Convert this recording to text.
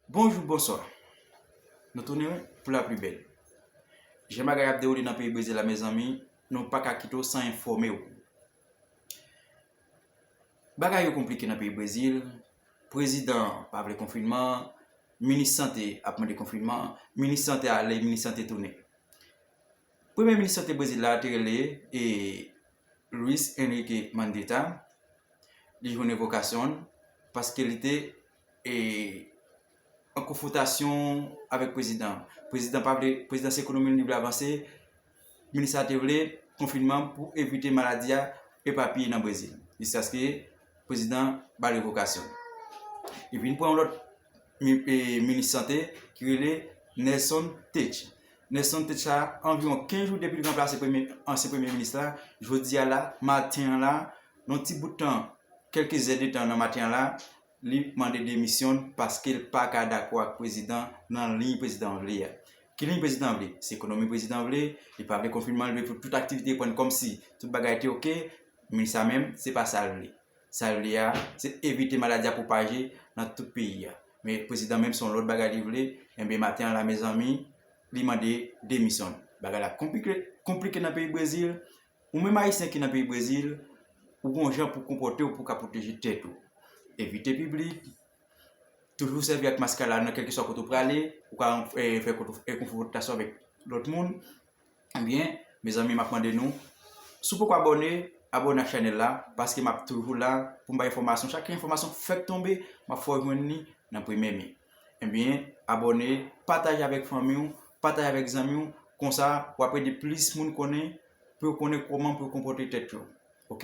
Bonjou bonswa Nou tounen pou la pli bèl Jan bagay ap dewoule nan peyi brezil la mezanmi nou paka kite w san enfòme w Bagay yo konplike nan peyi brezil prezidan an pa vle konfinman minis sante ap mande konfinman minis sante ale minis sante tounen premye minis sante brezil la te rele e Louis Henrique Mandetta li jwenn revokasyon l paske li te an konfwotasyon avèk prezidan an. Prezidan pa vle, prezidan se ekonomi li vle avanse, minis la te vle konfinman pou evite maladi a epapiye nan Brezil. Jiskaske prezidan ba l revokasyon. Li vin pran yon lòt minis sante ki rele Nelson Teich. Nelson Teich sa anviwon 15 jou depi li ranplase ansyen premye minis la, jodi a la, maten an la, yon ti bout tan, kèlke zè de tan nan maten an la, Li mande demisyon l paske l pa ka dakò ak prezidan nan liy prezidan an vle a. Ki liy prezidan an vle? Se ekonomi prezidan vle, li pa vle konfinman, li vle pou tout aktivite reprann kòmsi tout bagay te oke. Minis la menm, se pa sa l vle. Sa l vle a, se evite maladi a pwopaje nan tout peyi a. Men prezidan menm se yon lòt bagay li vle. Enben maten an la mezanmi, li mande demisyon l. Bagay la konplike nan peyi Brezil, Ou menm Ayisyen ki nan peyi Brezil, ou gon jan pou konpòte w pou w ka pwoteje tèt ou. Evite piblik, toujou sèvi ak mask la nan kèlkeswa kote ou prale, ou ka fè konfwontasyon avèk lòt moun. Ebyen, mezanmi map mande nou, si w poko abòne, abòne ak chanèl la, paske map toujou la pou m bay enfòmasyon, chak enfòmasyon fèk tonbe, map fè w jwenn li nan premye mi. Ebyen abòne, pataje avèk fanmi w, pataje avèk zanmi w, konsa wap ede plis moun konnen pou yo konnen kòman pou yo konpòte tèt yo ok.